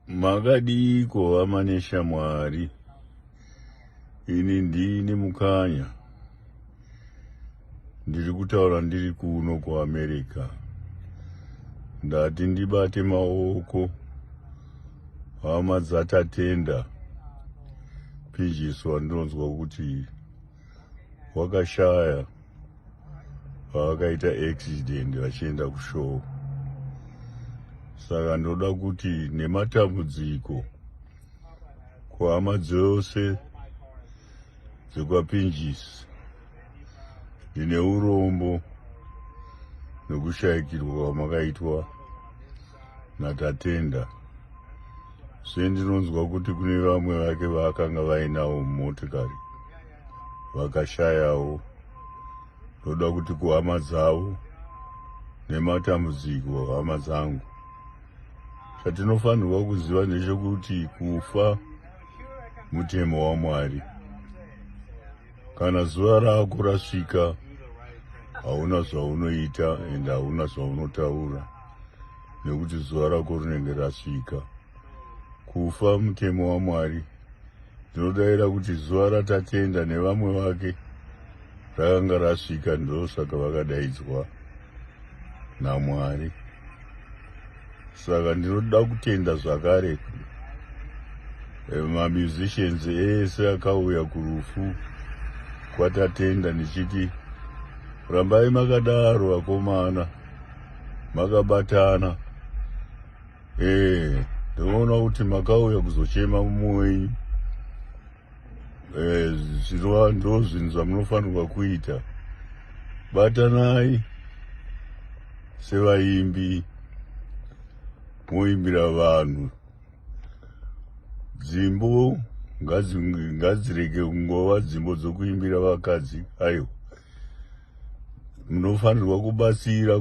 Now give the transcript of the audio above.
makadiiko hama neshamwari ini ndini mukanya ndiri kutaura ndiri kuno kuamerica ndati ndibate maoko hama dzatatenda pinjiswa ndinonzwa kuti wakashaya pavakaita accident vachienda kushow saka ndoda kuti nematambudziko kuhama dzose dzekwapinjisi ndine urombo nokushayikirwa kwamakaitwa natatenda zve ndinonzwa kuti kune vamwe vake vaakanga vainawo mumotikari vakashayawo ndoda kuti kuhama dzavo nematambudziko hama dzangu chatinofanirwa kuziva ndechekuti kufa mutemo wamwari kana zuva rako rasvika hauna zvaunoita ende hauna zvaunotaura nekuti zuva rako rinenge rasvika kufa mutemo wamwari ndinodaira kuti zuva ratatenda nevamwe vake rakanga rasvika ndosaka vakadaidzwa namwari saka ndinoda kutenda zvakare eh, mamusicians ese akauya kurufu kwatatenda ndichiti rambai makadaro vakomana makabatana eh ndoona kuti makauya kuzochema mumwe wenyu eh zvinova ndozvinhu zvamunofanirwa kuita batanai sevaimbi moimbira vanhu dzimbo ngadzirege kungova dzimbo dzokuimbira vakadzi aiwa munofanirwa kubatsira